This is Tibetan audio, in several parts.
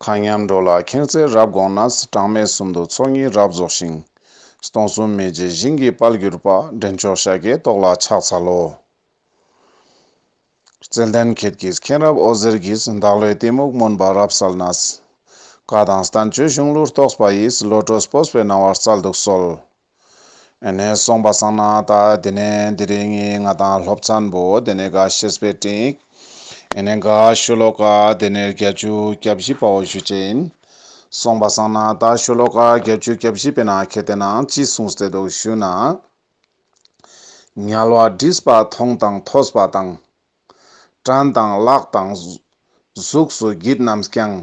ཁ་མཉམ་འགྲོ་ལ་ཁེངས་རྩལ་རབ་དགོངས་ན། གྲངས་མེད་གསུམ་དུ་ཚོགས་གཉིས་རབ་རྫོགས་ཤིང། སྟོང་གསུམ་མེད་ཅེས་བཞིན་གྱིས་དཔལ་གྱུར་པ། འདྲེན་མཆོག་ཤཱཀྱའི་ཏོག་ལ་ཕྱག་འཚལ་ལོ། རྩལ་ལྡན་ཁྱེད་ཀྱིས་མཁྱེན་རབ་ཨོ་ཟེར་གྱིས། བདག་བློའི་གཏི་མུག་སྨོན་པ་རབ་བསལ་ན། བཀའ་དང་ལྟ་མཆོད་གཞུང་ལུགས་རྟོགས་པ་ཡིས། བློ་གྲོས་སྤོས་པའི་སྣང་བ་རྩལ་དུ་གསོལ། ནས་སོང་པ་བསགས་ན་ད་དེ་ནས་འདི་རིང་ངས་ང་དང་སློབ་ཚན་པོ་དེ་ནས་འགའ་ཤེས་པའི་སྟེང། ནས་འགའ་ཤོ་ལོ་ཀ་དེ་ནས་བརྒྱ་བཅུ་གྱ་བཞི་པའོ་བཞུད་བྱས་ཡིན། སོང་པ་བསགས་ན་ད་ཤོ་ལོ་ཀ་བརྒྱ་བཅུ་གྱ་བཞི་པའི་ན་ཁེ་དེ་ན་ཅི་གསུངས་བསད་འདུག་ཞུས་ན། ཉལ་བ་བྲིས་པ་མཐོང་དང་ཐོས་པ་དང། བྲན་དང་གླགས་དང། གཟུགས་སུ་བགྱིད་རྣམས་ཀྱང།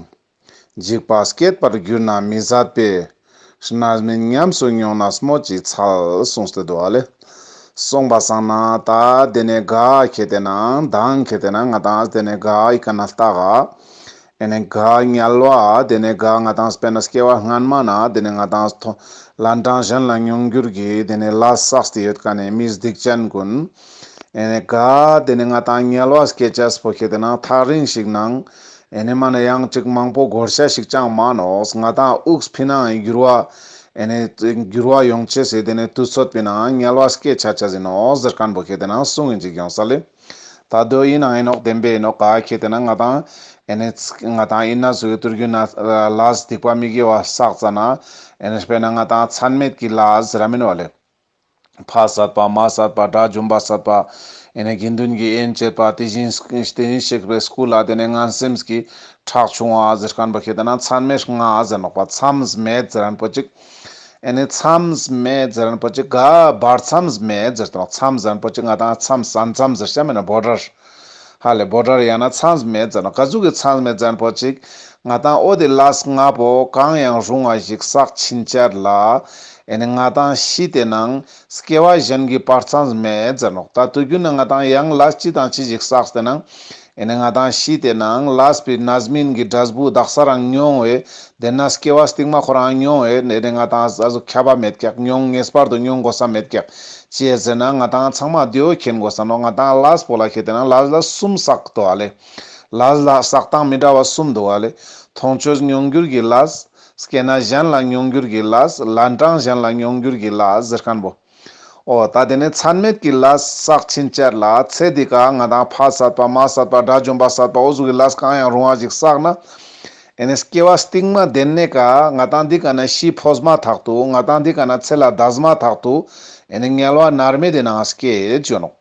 འཇིགས་པ་སྐྱེད་པར་གྱུར་ན་མི་བཟད་པས། ནར་མིན་ཉམས་སུ་མྱོང་ན་སྨོས་ཅི་འཚལ་གསུངས་སྟེ་བསྡུ་བ་ལས། གསུངས་པ་བཟང་ན་ད་དེ་ནས་དགའ་ཁྱེད་དེ་ན་འདང་ཁྱེད་དེ་ན་ང་དང་དེ་ནས་དགའ་ཡི་ག་ན་ལྟ་ག། དེ་ནས་དགའ་ཉལ་བ། དེ་ནས་དགའ་ང་དང་སྤེན་ནས་སྐྱེ་བ་སྔན་མ་ན་དེ་ནས་ང་དང་མཐོ། ལ་འབྲང་གཞན་ལ་མྱོང་འགྱུར་གྱི་དེ་ནས་ལ་སགས་དེ་ཡོད་ཀ་ནས་མི་སྡིག་ཅན་ཀུན། དེ་ནས་དགའ། དེ་ནས་ང་དང་ཉལ་བ་སྐྱེ་ཆ་སྤོ་ཁེ་དེ་ན་ཐག་རིང་ཞིག་ནང། དེ་ནས་མ་ན་ཡང་གཅིག་མང་པོ་གོར་ཤ་ཞིག་ཅང་མ་ནོས་ང་དང་དབུགས་ཕི་ནང་འགྱུར་བ། དེ་ནས་འགྱུར་བ་ཡོང་ཆེ་སེ་དེ་ནས་དུས་ཚོད་པི་ན་ཉལ་བ་སྐྱེ་ཆ་ཆ་ཟིན་ནོ་ཟེར་ཀན་པོ་ཁེ་དེ་ན་སུ་ངན་ཅིག་ཡོང་ས་ལེ། ད་གདོད་ཡིན་ནའང་ཨེ་ནོག་བདེན་པས་ཨེ་ནོག་ག་ཁྱེད་དེ་ན་ང་དང། ཨེ་ནས་ཚིག་ང་དང་ཨིན་ན་བཟོ་གི་ཏུར་གུ་ན་ལ་སྡིག་པ་མི་དགེ་བ་བསགས་ཙ་ན། ཨེ་ནས་པེ་ན་ང་དང་ཚན་མེད་ཀི་ལ་ཟི་ར་མིན་བ་ལས། ཕ་བསད་པ་མ་བསད་པ་དགྲ་བཅོམ་པ་བསད་པ། ཨེ་ནས་དགེ་འདུན་གྱི་དབྱེན་བྱེད་པ་དེ་བཞིན་གཤེགས་པའི་སྐུ་ལ་དེ་ནས་ང་སེམས་ཀྱི་ཁྲག་ཕྱུང་བ་ཟི་རྐན་པ་ཁྱེད་དེ་ན་ཚན་མེད་ང་ཟེ་ནོག་པ་མཚམས་མེད་ཟི་རན་པོ་ཅིག། ཨེ་ནས་མཚམས་མེད་རྫི་རན་པོ་ཆེ་དགའ་འབར་མཚམས་མེད་རྫིར་གཏོང་མཚམས་རན་པོ་ཆེ་ང་དང་མཚམས་སྲ་མཚམས་རྫིར་བྱ་མེད་ན་བོ་དྲར། ཧ་ལས་བོ་དྲར་ཡང་ན་མཚམས་མེད་རྫི་ན་བཀའ་ཟུར་གྱི་མཚམས་མེད་རྫན་པོ་ཅིག་ང་དང་ཨོ་དེ་ལཱས་ང་བོ་གང་ཡང་རུང་བ་ཞིག་བསགས་ཕྱིན་ཆར་ལ། ཨེ་ནས་ང་དང་ཤི་དེ་ནང་སྐྱེ་བ་གཞན་གྱི་བར་མཚམས་མེད་རྫི་ནོག་ད་དུ་རྒྱུ་ནི་ང་དང་ཡང་ལཱས་ཅི་དང་ཅི་ཞིག་བསགས་དེ་ནང། ཨེ་ནས་ང་དང་བཞི་དེ་ནའང་ལཱས་པི་ནཱས་མིན་གྱི་སྒྲ་སྦུག་རྡག་གསར་རང་མྱོང་བས་དེ་ནཱས་སྐྱེ་བ་སྟིག་མ་ཁོ་རང་མྱོང་བས་ཨེ་ནས་ང་དང་ཟ་ཟུ་ཁྱད་པ་མེད་ཀྱག་མྱོང་ངེས་པར་དུ་མྱོང་དགོས་ས་མེད་ཀྱག་ཅེས་ཟེར་ན་ང་དང་ཚང་མ་རྡོའི་ཁྱེན་དགོས་ས་ནོ་ང་དང་ལཱས་པོ་ལ་ཁྱེ་དེ་ནའང་ལཱས་ལ་གསུམ་བསགས་འདུག་ཨ་ལས་ལཱས་ལ་བསགས་སྟངས་མི་འདྲ་བ་གསུམ་འདུག་ཨ་ལས་མཐོང་ཆོས་མྱོང་འགྱུར་གྱི་ལཱས། སྐྱེ་ན་གཞན་ལ་མྱོང་འགྱུར་གྱི་ལཱས་ལཱས་འབྲང་གཞན་ལ་མྱོང་འགྱུར་གྱི་ལཱས་ཟེར་གནཔོ། ཨོ་ད་དེ་ནས་ཚར་མེད་ཀྱི་ལ་ཟག་ཕྱིན་ཅད་ལ་ཚེ་འདི་ག་ང་དང་ཕ་ཟད་པ་མ་ཟད་པ་དགྲ་བཅོམ་པ་ཟད་པའོ་གཟུགས་ཀྱི་ལ་གང་ཡང་རུང་བ་ཞིག་བསགས་ན། དེ་ནས་སྐྱེ་བ་སྟིང་མ་བདེན་ནས་ག་ང་དང་འདི་ག་ན་ཤི་འཕོ་བཟ་མ་ཐག་ཏུ་ང་དང་འདི་ག་ན་ཚེ་ལ་བདའ་བཟ་མ་ཐག་ཏུ་དེ་ནས་ངལ་བ་མནར་མེད་དེ་ནའང་སྐྱེ་བརྗོད་ནོ།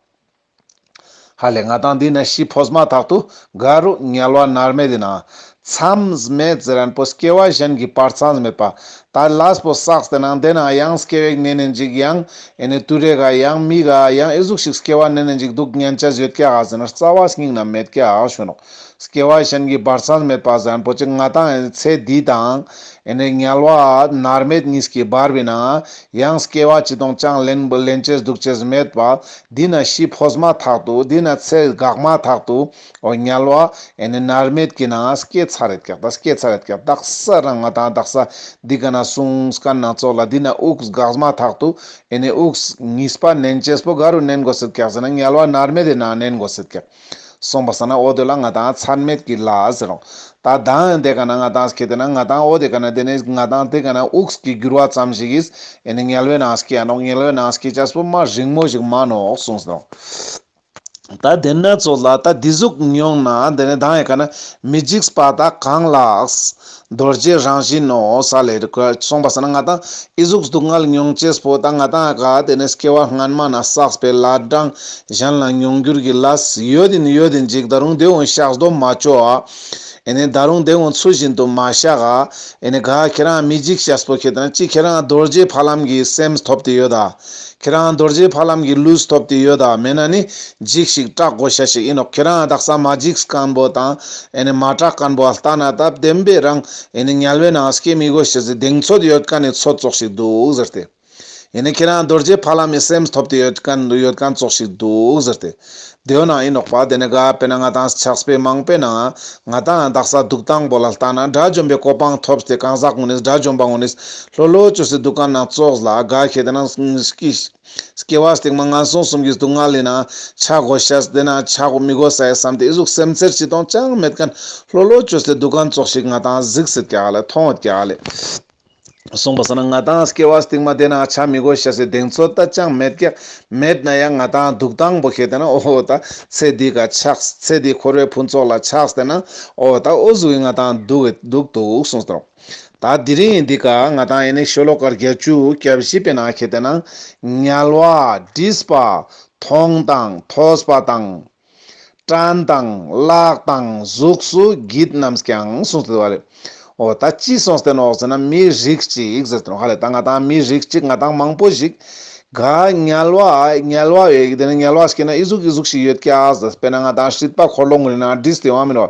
ཧ་ལས་ང་དང་འདི་ན་ཤི་འཕོས་མ་ཐག་ཏུ་དགའ་རུ་ཉལ་བ་ནར་མེད་དེ་ན། མཚམས་མེད་ཟེར་རན་པོ་སྐྱེ་བ་གཞན་གྱི་བར་མཚམས་མེད་པ། ད་ལས་པོ་བསགས་དེ་ན་འདས་ན་ཡང་སྐྱེ་བའི་གནས་ནས་འཇིག་ཡང་ཨེ་ནི་དུས་རེ་ག་ཡང་མི་ག་ཡང་ཨེ་གཟུགས་ཤིག་སྐྱེ་བ་གནས་ནས་འཇིག་སྡུག་བསྔལ་བྱ་བཟོད་ཀྱ་ཧ་ཟེར་ན་རྩ་བ་སྙིང་ན་མེད་ཀྱ་ཧ་བྱུང་རོགས། སྐྱེ་བ་གཞན་གྱི་སྦར་ཚང་མེད་པ་བཟང་པོ་ཅིག་ང་དང་ཨེ་ཚེ་འདི་དང་ཨེ་ནི་ཉལ་བ་ནར་མེད་གཉིས་ཀྱིས་སྦར་བས་ན་ཡང་སྐྱེ་བ་སྤྱི་དང་ཅང་ལེན་ལེན་བྱེད་སྡུག་བྱེད་མེད་པ་འདི་ན་ཤི་འཕོས་མ་ཐག་ཏུ་འདི་ན་ཚེ་འགག་མ་ཐག་ཏུ་འོ་ཉལ་བ་ཨེ་ནི་ནར་མེད་ཀྱིས་ན་སྐྱེ་ཚར་རེད་ཀྱག་ད་སྐྱེ་ཚར་རེད་ཀྱག་བདག་ས་རང་ང་དང་བདག་ས་འདི་ག་ན་གསུང་སྐད་སྣ་ཚོགས་ལ་འདི་ན་དབུགས་འགགས་མ་ཐག་ཏུ་ཨེ་ནི་དབུགས་ངིས་པ་ནན་བྱེད་པོ་ག་རུ་ནན་དགོས་སྲིད་ཀྱག་ཟེར་ན་ཉལ་བ་ནར་མེད་དེ་ན་ནན་དགོས་སྲིད་ཀྱག། སོང་བ་ཟ་ན་ཨོ་དེ་ལ་ང་དང་ཚར་མེད་ཀི་ལ་ཟེར་རོ། ད་དང་ཨན་དེ་ག་ན་ང་དང་སྐྱེ་དེ་ན་ང་དང་ཨོ་དེ་ག་ན་དེ་ནས་ང་དང་དེ་ག་ན་ཨུགས་ཀི་འགྱུར་བ་ཙམ་ཞིག་ཡིས་ཨན་ནི་ངལ་བའི་ནང་སྐྱེ་ཡ་ནོག་ངལ་བའི་ནང་སྐྱེ་ཅག་སྤུ་མ་རིང་མོ་ཞིག་མ་ནོག་གསུངས་ཟེར་རོ། ད་དེ་ན་ཚོ་ལ་ད་དེ་གཟུགས་མྱོང་ན་དེ་ནས་དང་ཡེ་ག་ན་མི་འཇིགས་པ་ད་གང་ལགས། རྡོ་རྗེའི་རང་བཞིན་ནོ། ས་ལས་རི་ཁོད་གསུངས་པ་ས་ན་ང་དང་ཨི་གཟུགས་སྡུག་བསྔལ་མྱོང་བྱེད་སྤོ་དང་ང་དང་ཨ་ག་དེ་ནས་སྐྱེ་བ་སྔན་མ་ན་བསགས་པའི་ལ་བགྲང་གཞན་ལ་མྱོང་འགྱུར་གྱི་ལ་ཡོད་དེ་ནི་ཡོད་དེ་འཇིག་ད་རུང་དེ་འོང་བཤགས་སྡོམ་མ་བཅོ་ཨ་ཨེ་ནས་ད་རུང་དེ་འོང་ཚུལ་བཞིན་དུ་མ་བཤགས་ཨ་ཨེ་ནས་ག་ཁྱེད་རང་མི་འཇིགས་བྱ་སྤོ་ཁྱེད་རང་ཅི་ཁྱེད་རང་རྡོ་རྗེའི་ཕ་ལམ་གྱི་སེམས་ཐོབ་དེ་ཡོད་ཨ། ཁྱེད་རང་རྡོ་རྗེ་ཕ་ལམ་གྱི་ལུས་ཐོབ་ཏེ་ཡོད་དཱ་མེད་ན་ནི་འཇིགས་ཤིག་སྐྲག་དགོ་ཤ་ཤིག་ཡིན་ནོ་ཁྱེད་རང་དག་ས་མ་འཇིགས་སྐམ་པོ་དང་ཨེ་ནི་མ་སྐྲག་སྐམ་པོ་ལྟ་ན་དད་ལྡན་པའི་རང་ཨེ་ནི་ཉལ་བའི་ནང་སྐྱེ་མི་དགོས་ཤི་ཟི་གདེང་ཚོད་ཡོད་ཀ་ནི་ཚོད་ཙོག་ཤིག་འདུག་ཟེར་ཏེ། ཨེ་ནི་ཁྱེད་རང་རྡོ་རྗེ་ཕ་ལམ་ཡི་སེམས་ཐོབ་ཏེ་ཡོད་ཀ་ཡོད་ཀ་ཙོག་ཤིག་འདུག་ཟེར་ཏེ། དེ་ཡོད་ན་ཨེ་ནོག་པ་དེ་ནི་ག་པེ་ན་ང་དང་ཕྱག་སྤེ་མང་པེ་ན་ང་དང་རྡག་ས་འདུག་དང་པོ་ལ་ལྟ་ན་དགྲ་བཅོམ་པའི་གོ་པང་ཐོབས་ཏེ་གང་ཟག་ངོ་ནིས་དགྲ་བཅོམ་པ་ངོ་ནིས་ལྷོ་ལྷོ་བཅོ་སི་འདུག་ག་ན་ཙོགས་ལ་དགའ་ཁེ་དེ་ན་སྐྱེ་བ་སྟེགས་མ་ངན་སོང་གསུམ་གི་སྡུག་བསྔལ་ལི་ན་ཆ་གོ་ཤ་ཟི་དེ་ན་ཆ་གོ་མི་གོ་ས་ཡ་བསམ་ཏེ་ཨི་ཟུག་སེམས་ཚེར་ཅི་དང་ཅང་མེད་ཀན་ལྷོ་ལྷོ་བཅོ་སི་འདུག་ག་ཙོགས་ཤིག་ང་དང་གཟིགས་སི་ཀྱ་ལི་ཐོང་ཀྱ་ལི། གསུངས་པ་ཟ་ན་ང་དང་སྐྱེ་བ་སྟིང་མ་བདེ་ན་བྱ་མི་དགོས་ཤ་ཟའི་གདེང་ཚོད་ལྟ་ཅང་མེད་ཀྱི། མེད་ན་ཡང་ང་དང་འདུག་སྟངས་པོ་ཤེས་དེ་ན་ཨོ་ད་ཚེ་འདི་ག་ཆགས་ཚེ་འདི་འཁོར་བའི་ཕུན་ཚོགས་ལ་ཆགས་དེ་ན་ཨོ་ད་ཨོ་གཟུགས་ཡིན་ང་དང་འདུག་འདུག་འདུག་གསུངས་དང། ད་འདི་རིང་ཡིན་འདི་ག་ང་དང་ཡིན་ནི་ཤོ་ལོ་ཀར་བརྒྱད་བཅུ་གྱ་བཞི་པའི་ནང་ཤེས་དེ་ན། ཉལ་བ། བྲིས་པ། མཐོང་དང་ཐོས་པ་དང། དྲན་དང་བཀླགས་དང་གཟུགས་སུ་བགྱིད་རྣམས་ཀྱང་གསུངས་ཟིན་པ་རེད། འོ་ད་ཅི་གསུངས་ཟེར་ན་འོག་ཟེར་ན་མི་རིགས་ཅིག་ཟེར་ཏེ་ཧ་ལས་ད་ང་དང་མི་རིགས་ཅིག་ང་དང་མང་པོ་ཞིག་ག་ཉལ་བ་ཉལ་བ་ཡོད་ཀྱི་དེ་ནས་ཉལ་བ་ཞིག་གི་ན་ཨི་གཟུགས་ཨི་གཟུགས་ཞིག་ཡོད་ཀྱ་ཟེར་དཔེར་ན་ང་དང་ཧྲིལ་པ་འཁོར་ལོ་ངོས་ན་བསྒྲིལ་ཏེ་ཡོང་བ་མིན་ནོ།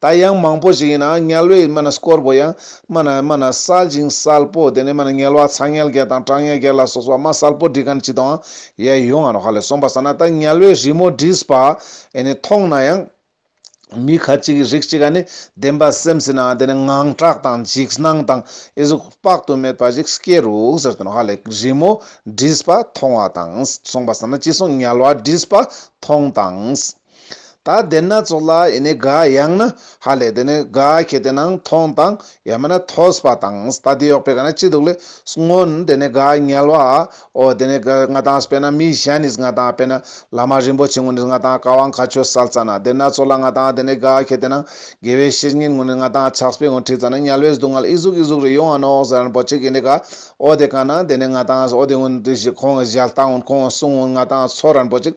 ད་ཡང་མང་པོ་ཞིག་ཡིན་ན་ངལ་བས་སྨྲ་ན་སྐོར་བོ་ཡང་སྨྲ་ན་སྨྲ་ན་གསལ་ཅིང་གསལ་པོ་དེ་ནས་སྨྲ་ན་ངལ་བ་ཚ་ངལ་བརྒྱད་དང་གྲང་ངལ་བརྒྱད་ལ་སོགས་པ་སྨྲ་གསལ་པོ་འདྲི་ག་ནི་ཅི་དང་ཡའི་ཡོ་ང་རོ་ཧ་ལས་གསུངས་པ་ཟ་ན་ད་ངལ་བས་རི་མོ་འདྲིས་པ་ཨེ་ནི་མཐོང་ན་ཡང། མི་ཁ་ཅིག་གིས་རིགས་གཅིག་ག་ནི་བདེན་པ་སེམས་ཟིན་ན་དེ་ནི་ངང་གྲགས་དང་འཇིགས་སྣང་དང་ཨེ་གཟུགས་དཔག་ཏུ་མེད་པ་ཞིག་སྐྱེ་རུ་ཟེར་དོན་ཧ་ལས་རི་མོ་འདྲིས་པ་མཐོང་བ་དང་གསུངས་པ་ཟ་ན་ཅི་གསུངས་ངལ་བ་འདྲིས་པ་མཐོང་དང། ད་དེ་སྣ་ཚོགས་ལ་ཡེ་ནས་དགའ་ཡང་ན་ཧ་ལས་དེ་ནི་དགའ་ཁྱེད་དེ་སྣང་མཐོང་དང་ཡང་མིན་ན་ཐོས་པ་དང་ལྟ་བདེ་གཡོག་པས་ག་ན་ཅི་འདུག་ལས་མངོན་དེ་ནི་དགའ་ཉལ་བ་འོ་དེ་ནི་དགའ་ང་དང་དཔེ་ན་མི་གཞན་ནི་ང་དང་དཔེ་ན་བླ་མ་རིན་པོ་ཆེ་ངོ་ནི་ང་དང་བཀའ་དབང་མཁའ་སྤྱོད་གསལ་བཙལ་ན་དེ་སྣ་ཚོགས་ལ་ང་དང་དེ་ནི་དགའ་ཁྱེད་དེ་སྣང་དགེ་བའི་བཤེས་གཉེན་ངོ་ནི་ང་དང་ཕྱག་སྤེལ་ངོ་ཁྲིད་ཙམ་ན་ཉལ་བའི་སྡུག་བསྔལ་ཨི་གཟུགས་ཨི་གཟུགས་རེ་ཡོང་ཨ་ནོ་ཨོ་ཟེར་ན་པོ་ཆེ་གི་ནི་དགའ་འོ་དེ་ག་ན་དེ་ནི་ང་དང་འོ་དེ་ངོ་ནི་ཁོང་གི་ཞལ་བལྟ་འོ་ཁོང་གི་གསུང་འོ་ང་དང་ཚོར་རན་པོ་ཆེ།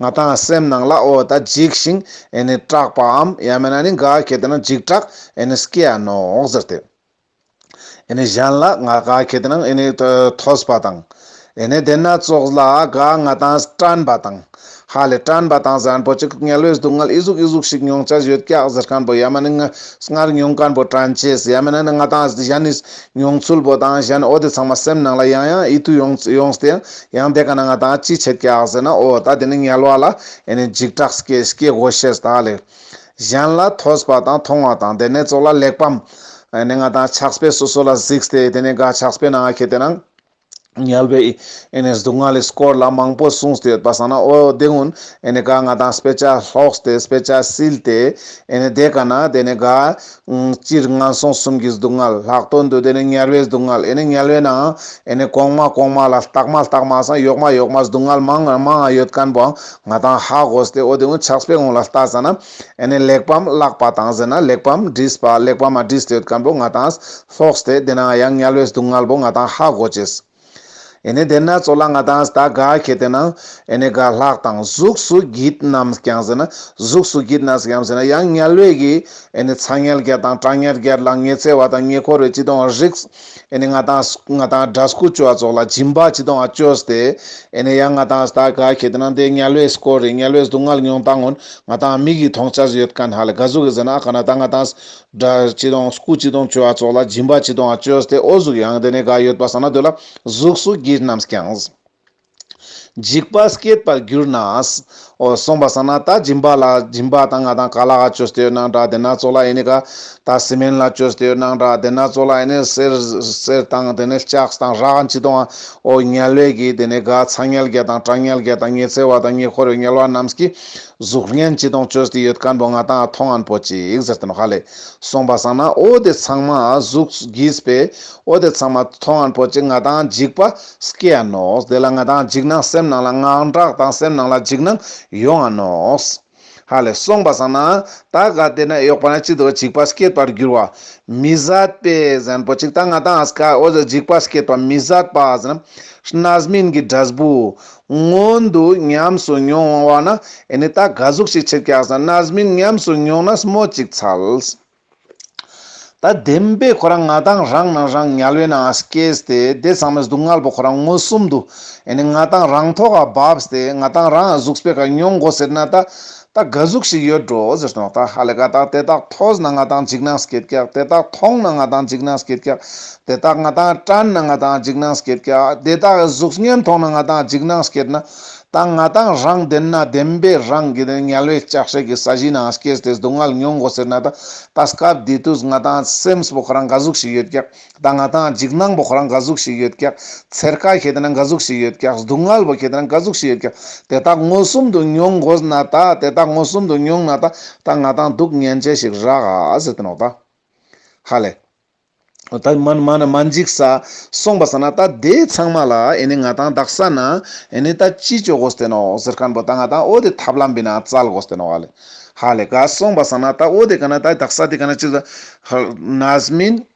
ང་དང་སེམས་ནང་ལ་འོ་ད་འཇིགས་ཤིང་ཨེ་ནི་སྐྲག་པའམ་ཡ་མེད་ན་ནི་ག་གེ་དེ་ན་འཇིགས་སྐྲག་ཨེ་ནི་སྐྱེ་ཡ་ནོག་ཟེར་ཏེ། ཨེ་ནི་གཞན་ལ་ང་ག་གེ་དེ་ན་ཨེ་ནི་ཐོས་པ་དང། ཨེ་ནི་དེ་སྣ་ཚོགས་ལ་ག་ང་དང་སྐྲན་པ་དང། ཧ་ལས་སྐྲན་པ་དང་ཟན་པོ་ཅིག་ངལ་བས་སྡུག་བསྔལ་ཨི་གཟུགས་ཨི་གཟུགས་ཤིག་མྱོང་བྱ་ཡོད་སྐྱག་ཟེར་མཁན་པོ་ཡ་མ་ནི་ངའི་སྔར་མྱོང་མཁན་པོ་དྲན་བྱེད་ཡ་མེད་ན་ནི་ང་དང་གཞན་ནི་མྱོང་ཚུལ་པོ་དང་གཞན་འོ་དེ་ཚང་མ་སེམས་ནང་ལ་ཡང་ཡང་ཨི་ཐུག་ཡོང་སྟེ་ཡང་ཡང་དེ་ག་ན་ང་དང་ཅི་བྱེད་སྐྱག་ཟེར་ན་ཨོ་ད་དེ་ནི་ངལ་བ་ལ་ཨེ་ནི་འཇིགས་སྐྲག་སྐྱེ་སྐྱེ་དགོ་ཤེས་ད་ལེགས། གཞན་ལ་ཐོས་པ་དང་མཐོང་བ་དང་དེ་ནས་ཙོག་ལ་ལེགས་པམ། ཨེ་ནི་ང་དང་ཆགས་པས་སོ་སོ་ལ་གཟིགས་ཏེ་དེ་ནི་ག་ཆགས་པས་ན་ང་ཁྱེད་དེ་ན་ངལ་བས་ཨེ་ནི་སྡུག་བསྔལ་ལས་སྐོར་ལ་མང་པོ་གསུངས་ཏེ་ཡོད་པ་བསམ་ན་ཨོ་དེ་སྔོན་ཨེ་ནི་ག་ང་དང་སྤེ་ཅག་ལྷོགས་ཏེ་སྤེ་ཅག་བསིལ་ཏེ་ཨེ་ནི་དེ་ག་ན་དེ་ནི་ག་སྤྱིར་ངན་སོང་གསུམ་གྱི་སྡུག་བསྔལ་ལྷག་ཏུ་འདོད་དེ་ནི་དམྱལ་བའི་སྡུག་བསྔལ་དམྱལ་བའི་ནང་དམྱལ་གོང་མ་གོང་མ་ལ་རྟག་མ་རྟག་མ་སང་ཡོག་མ་ཡོག་མ་སྡུག་བསྔལ་མང་ང་མང་ང་ཡོད་ཀན་པོ་ང་དང་ཧ་གོ་ཟེར་ཏེ་འོ་དེ་འུ་ཆགས་པའི་ངོ་ལ་ལྟ་ས་ན་དམྱལ་ལེགས་པའམ་བརླག་པ་དང་ཟེར་ན་ལེགས་པའམ་བསྒྲིས་པ་ལེགས་པ་མ་བསྒྲིས་ཏེ་ཡོད་ཀན་པོ་ང་དང་ལྷོགས་ཏེ་དེ་ནང་ཡང་དམྱལ་བའི་སྡུག་བསྔལ་པོ་ང་དང་ཧ་གོ་བྱེད། ཨེ་ནས་དེ་ན་ཚོ་ལ་ང་དང་ད་ག་ཁྱེད་དེ་ན་ཨེ་ནས་ག་ལྷག་དང་གཟུགས་སུ་གྱིད་ནམ་ཀྱང་ཟེར་ན་གཟུགས་སུ་གྱིད་ནམ་ཀྱང་ཟེར་ན་ཡང་ཉལ་བས་གི་ཨེ་ནས་ཚ་ཉལ་རྒྱ་དང་སྐྲ་ཉལ་རྒྱ་ལ་ཉེ་ཚེ་བ་དང་ཉེ་འཁོར་བའི་ཅི་དོང་རིགས་ཨེ་ནས་ང་དང་ང་དང་འདྲ་སྐུ་བཅོ་བ་ཚོགས་ལ་སྦྱིན་པ་ཅི་དོང་བཅོས་ཏེ་ཨེ་ནས་ཡང་ང་དང་ད་ག་ཁྱེད་དེ་ན་དེ་ཉལ་བས་སྐོར་རེད་ཉལ་བས་སྡུག་བསྔལ་མྱོང་སྟངས་ངོ་ང་དང་མིག་གིས་མཐོང་བྱར་ཡོད་ག་ན་ལ་ག་གཟུགས་གི་ཟེར་ན་ཨ་ག་ན་ད་ང་དང་སྒྲ་སྤྱི་དང་སྐུ་སྤྱི་དང་སྤྱོད་བ་སོགས་ལ་སྦྱིན་པ་སྤྱི་དང་སྤྱོད་སྟེ་ཨོ་གཟུགས་ཡང་དེ་ནས་འགའ་ཡོད་པར་བསམ་ན་འདོད་ལ། གཟུགས་སུ་བགྱིས་རྣམས་ཀྱང། འཇིགས་པ་སྐྱེད་པར་གྱུར་ན། ཨོ་གསུངས་པར་བསམ་ན་ད་སྦྱིན་པ་ལ་སྦྱིན་པ་དང་ང་དང་ག་ལ་ཨ་སྤྱོད་སྟེ་ཡོད་ན་འདྲ་དེ་ན་གཙོ་ལ་ཨེ་ནི་ག། ད་སྲི་མེན་ལ་སྤྱོད་སྟེ་ཡོད་ན་འདྲ་དེ་ན་གཙོ་ལ་ཨེ་ནི་གསེར། གསེར་དང་དེ་ནས་ལྕགས་དང་རག་སྤྱི་དང། ཨོ་ཉལ་བས་བགྱིས་དེ་ནས་འགའ་ཚ་ཉལ་བརྒྱ་དང་བྲག་ཉལ་བརྒྱ་དང་ཉེ་ཚེ་བ་དང་ཉེ་འཁོར་བའི་ཉལ་བ་རྣམས་ཀྱིས། གཟུགས་བརྙན་གཅིག་དང་བཅོས་ཏེ་ཡོད་ཀ་འགྲོ་ང་དང་ཐོ་ངན་པོ་ཅིག་ཟེར་དོན་ཧ་ལས་སོང་པ་བསམ་ན་ཨོ་དེ་ཚང་མ་གཟུགས་གིས་པས་ཨོ་དེ་ཚང་མ་ཐོ་ངན་པོ་ཅིག་ང་དང་འཇིགས་པ་སྐྱེ་ཡ་ནོགས་དེ་ལ་ང་དང་འཇིགས་སྣང་སེམས་ནང་ལ་དངངས་སྐྲག་དང་སེམས་ནང་ལ་འཇིགས་སྣང་ཡོང་ཡ་ནོགས་ཧ་ལས་སོང་པ་བསམ་ན་ད་ག་དེ་ན་ཡོག་པ་ན་ཅིག་དེ་བ་འཇིགས་པ་སྐྱེད་པར་འགྱུར་བ་མི་བཟད་པས་གཟན་པོ་ཅིག་ད་ང་དང་ཨ་ཟ་ཀ་ཨོ་ཟ་འཇིགས་པ་སྐྱེད་པ་མི་བཟད་པ་ཟེར་ན་ཤ་ནཱ་ཟ་མིན་གྱི་སྒྲ་ཟ་བུ་སྔོན་དུ་ཉམས་སུ་མྱོང་བ་ན་ཨེ་ནི་ད་ག་གཟུགས་ཤིག་ཕྱིར་བཀྱགས་སམ་ནཱ་སྨིན་ཉམས་སུ་མྱོང་ན་སྨོ་གཅིག་ཚལ། ད་བདེན་པས་ཁོ་རང་ང་དང་རང་སྣང་རང་ཉལ་བས་ནའང་སྐྱེས་སྟེ་དེ་ཚང་མས་སྡུག་བསྔལ་བ་ཁོ་རང་མངོན་སུམ་དུ་ཨེ་ནི་ང་དང་རང་ཐོག་འགའ་བབས་སྟེ་ང་དང་རང་གཟུགས་སྤེལ་ག་མྱོང་གོ་ཟེར་ན་ད་ད་ག་གཟུགས་ཤིག་ཡོད་འགྲོ་ཟེར་སྟངས་ད་ཧ་ལས་ཀ་དག་དེ་དག་ཐོས་ན་ང་དང་འཇིགས་སྣང་སྐྱེད་རྒྱག་དེ་དག་མཐོང་ན་ང་དང་འཇིགས་སྣང་སྐྱེད་རྒྱག་དེ་དག་ང་དང་དྲན་ན་ང་དང་འཇིགས་སྣང་སྐྱེད་རྒྱག་དེ་དག་གི་གཟུགས་བརྙན་མཐོང་ན་ང་དང་འཇིགས་སྣང་སྐྱེད་ན་ད་ང་དང་རང་བདེན་ན་བདེན་པའི་རང་གི་དེ་ཉལ་བའི་ལྕགས་ཧྲེག་གི་ས་གཞི་ན་སྐྱེས་དེ་སྡུག་བསྔལ་མྱོང་དགོ་ཟེར་ན་ད་ད་སྐབས་དེ་དུས་ང་དང་སེམས་སྤོགས་རང་ག་གཟུགས་ཤིག་ཡོད་རྒྱག་ད་ང་དང་འཇིགས་སྣང་པོ་ཁོ་རང་འགའ་གཟུགས་ཤིག་ཡོད་ཀྱང། ཚེར་ཀ་ཁྱེད་རང་འགའ་གཟུགས་ཤིག་ཡོད་ཀྱང་སྡུག་བསྔལ་བོ་ཁྱེད་རང་འགའ་གཟུགས་ཤིག་ཡོད་ཀྱང། དེ་དག་མངོན་སུམ་དུ་མྱོང་དགོས་ན་ད། དེ་དག་མངོན་སུམ་དུ་མྱོང་ན་ད། ད་ང་དང་སྡུག་བསྔལ་མཇལ་ཞིག་རག་ཨ་ཟེར་དུ་ནོ་ད། ཧ་ལས། ད་མ་མ་ན་མ་འཇིགས་ས། གསུངས་པ་ས་ན་ད་དེ་ཚང་མ་ལ་ཨེ་ནི་ང་དང་གདགས་ས་ན། ཨེ་ནི་ད་ཅི་བཅོས་དགོས་ཏེ་ནོ་ཟེར་ཁན་པོ་ད་ང་དང་ཨོ་དེ་ཐབས་ལམ་བི་ན་བཙལ་དགོས་ཏེ་ནོ་ཨ་ལས། ཧ་ལས། ག་གསུངས་པ་ས་ན་ད་ཨོ་དེ་ག་ན་ད་གདགས་ས་དེ་ག་ན་ཅི། ནཱ་ཟ་མིན།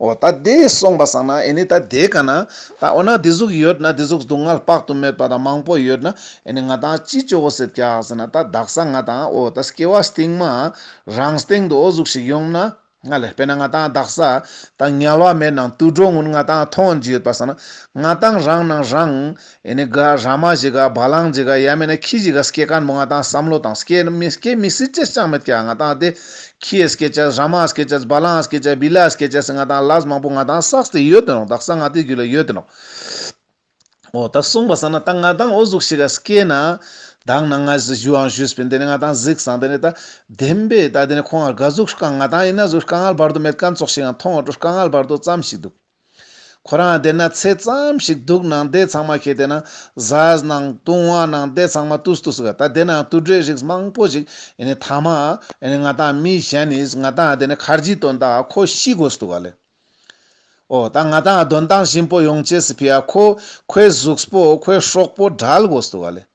འོ་ད་དེ་སོང་པ་སང་ན་ཨེ་ནི་ད་དེ་ག་ན་ད་འོ་ན་དེ་གཟུགས་ཡོད་ན་དེ་གཟུགས་སྡུག་བསྔལ་དཔག་ཏུ་མེད་པ་དང་མང་པོ་ཡོད་ན་ཨེ་ནི་ང་དང་ཅི་ཅོ་བོ་སེར་སྐྱ་ཟེར་ན་ད་བདག་ས་ང་དང་འོ་ད་སྐྱེ་བ་སྟེང་མ་རང་སྟེང་དུ་འོ་གཟུགས་ཤིག་ཡོང་ན་ང་ལས་དཔེར་ན་ང་དང་བདག་ས་ད་ངལ་བ་མེད་ནང་དུ་འགྲོ་ངུ་ང་དང་མཐོང་རྒྱུ་ཡོད་པ་སང་ན་ང་དང་རང་ནང་རང་ཨེ་ནི་ག་རཱ་མ་ཇི་ག་བ་ལང་ཇི་ག་ཡ་མེ་ན་ཁྱི་ཇི་ག་སྐྱེ་ཀ་མོ་ང་དང་བསམ་བློ་དང་སྐྱེ་ནི་མི་སྐྱེ་མི་སི་ཅི་ཅང་མི་སྐྱེ་ང་དང་དེ་ཁྱི་ཨེ་སྐྱེ་ཅེས་རཱ་མ་ཨེ་སྐྱེ་ཅེས་བ་ལང་ཨེ་སྐྱེ་ཅེས་བི་ལ་ཨེ་སྐྱེ་ཅེས་ང་དང་ལཱས་མང་པོ་ང་དང་སགས་དེ་ཡོད་དོན་རོགས་དག་སགས་ང་དེ་རྒྱུད་ལ་ཡོད་དོན་རོགས། འོ་ད་གསུངས་པ་ས་ན་ད་ང་དང་འོ་གཟུགས་ཞི་ག་སྐྱེ་ན། དག་ན་ང་ཟི་ཞུའང་ཞུས་པས་འདི་ནི་ང་དང་གཟིགས་སང་དེ་ནི་ད་བདེན་པས་ད་དེ་ནི་ཁོང་ང་ག་གཟུགས་ཤུ་ག་ང་དང་ཡིན་ན་གཟུགས་ཤུ་ག་ངལ་བར་དུ་མེད་ཀ་མཚོགས་ཤིག་ཡང་མཐོང་བ་དྲུ་ཤུ་ག་ངལ་བར་དུ་ཙམ་ཞིག་འདུག། ཁོ་རང་བསྡད་ན་ཚེ་ཙམ་ཞིག་འདུག་ནང་བསྡད་ཚང་མ་ཁྱེད་བསྡད་ན་བཟའ་ནང་བཏུང་བ་ནང་བསྡད་ཚང་མ་བཏུ་བཏུ་ཟིག་ད་བསྡད་ན་བཏུ་འདྲེ་རིགས་མང་པོ་ཞིག་ཡིན་ནི་ཐ་མ་ང་དང་མི་གཞན་ནི་ང་དང་བསྡད་ན་ཁར་གྱི་དོན་དག་ཁོ་ཤི་དགོས་སུ་འདུག་ག་ལེ། ཨོ་ད་ང་དང་གདོན་དང་གཤིན་པོ་ཡོང་བྱས་སི་ཕི་ཡ་ཁོ་ཁོའི་གཟུགས་པོ་ཁོའི་ཧྲོག་པོ་བྲལ་དགོས་སུ་འདུག་ག་ལེ།